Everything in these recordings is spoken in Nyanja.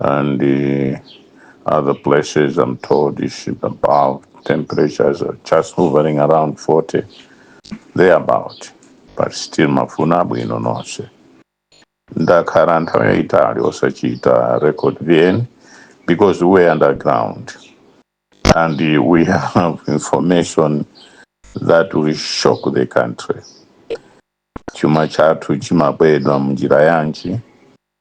and uh, other places I'm told is about temperatures are just hovering around 40 thereabout but still mafuna abwino nonse ndakhala nthawi yayitali osachita record vn because we're underground and uh, we have information that will shock the country chuma chathu chimabedwa munjira yanji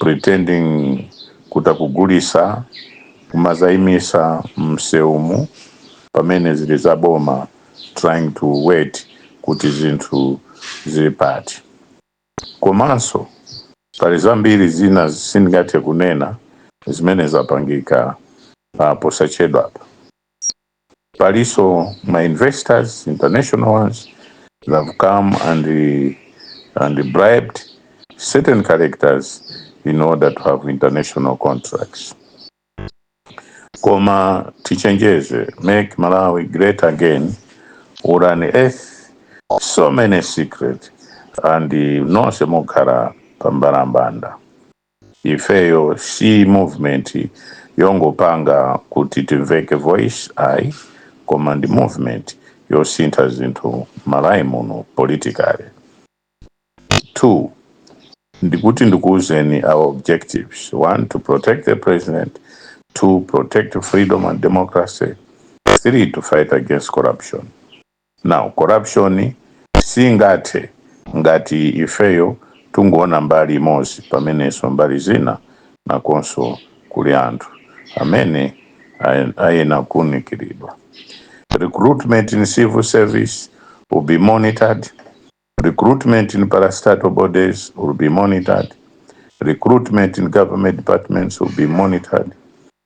pretending kuti akugulisa kumazaimisa mmseumu pamene zili za boma trying to wait kuti zinthu zili pati komanso pali zambiri zina sindingathe kunena zimene zapangika posachedwapa. Palinso ma investors, international ones, they have come and and bribed certain characters in order to have international contracts. Koma tichenjeze, make Malawi great again, or an earth, so many secret, and nonse mokhala pambalambanda. ifeyo si movement yongopanga kuti timveke voice ayi koma ndi movement yosintha zinthu mmalawi muno politically 2 ndikuti ndikuuzeni our objectives 1 to protect the president 2 protect freedom and democracy 3 to fight against corruption Now corruption siingathe ngati ifeyo tungoona mbali imozi pamenenso mbali zina nakonso kuli anthu amene ayena kuunikiridwa. Recruitment in civil service will be monitored, recruitment in parastatal bodies will be monitored, recruitment in government departments will be monitored,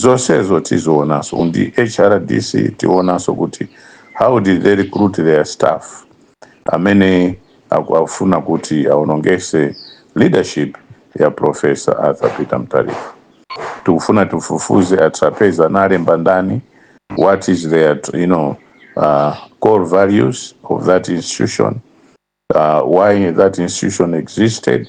Zosezo tizionaso nd hrdc tionaso kuti how did they recruit their staff amene akufuna kuti aonongese leadership ya professor Arthur Peter Mutharika tikufuna tifufuze a Trapence anaalemba ndani what is their you know core values of that institution why that institution existed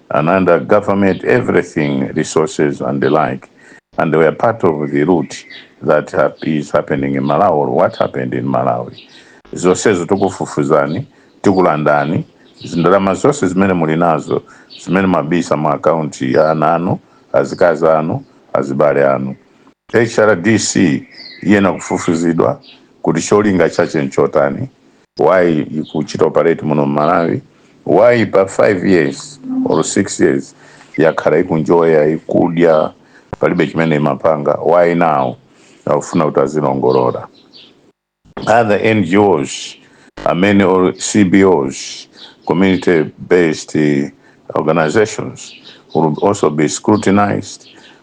and under government everything resources and the like and they were part of the rot that hap- is happening in malawi or what happened in malawi zonsezo tikufufuzani tikulandani zindalama zonse zimene muli nazo zimene mabisa mu akaunti ya ana anu azikazi anu azibale anu hrdc iyena kufufuzidwa kuti cholinga chache nchotani why ikuchita operate muno mmalawi why pa 5 years or 6 years yakhala ikunjoya ikudya palibe chimene imapanga why now akufuna kuti azilongolora other ngos amene or cbos community based organizations will also be scrutinized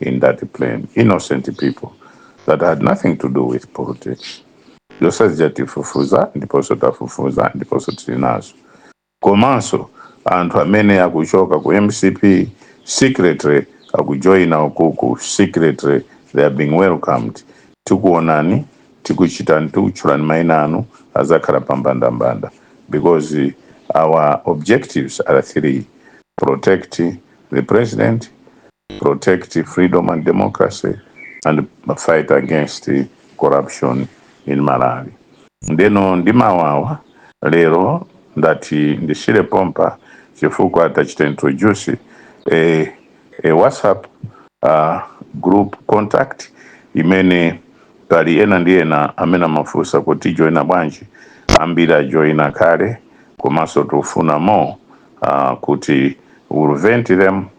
in that plane, innocent people that had nothing to do with politics. Zonse zija tifufuza ndiponso tafufuza ndiponso tili nazo. Komanso anthu amene akuchoka ku MCP secretly akujoina ukuku secretly they are being welcomed. Tikuonani tikuchitani tikutchulani maina anu azakhala pambandambanda because eh, our objectives are three protect the president protect freedom and democracy and fight against corruption in malawi ndeno ndimawawa lero ndati ndisiyire pompa chifukwa tachita introduce a, a whatsapp uh, group contact imene pali ena ndi ena amene amafunsa kuti tijoina bwanji ambiri ajoina kale komanso tufuna more uh, kuti we'll vet them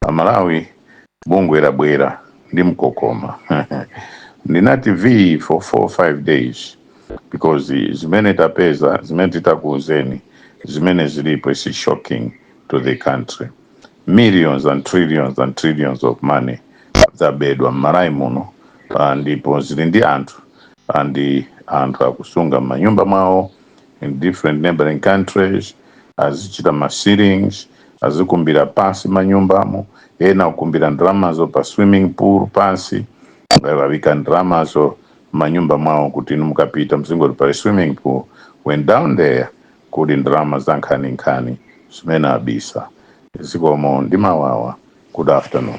Amalawi bungwe labwera ndi mkokomo ndinati phee for 4 5 days because zimene tapeza zimene titakuuzeni zimene zilipo is shocking to the country millions and trillions and trillions of money zabedwa m'Malawi muno ah, ndipo zili ndi anthu and anthu akusunga m'manyumba mwawo in different neighboring countries azichita ma ceilings azikumbira pansi manyumbamo ena kukumbira ndalamazo pa swimming pool pansi aika ndalamazo manyumba mwawo kuti inu mukapita muzingoti pali swimming pool when down there kuli ndalama za nkhaninkhani zimene abisa zikomo ndi mawawa good afternoon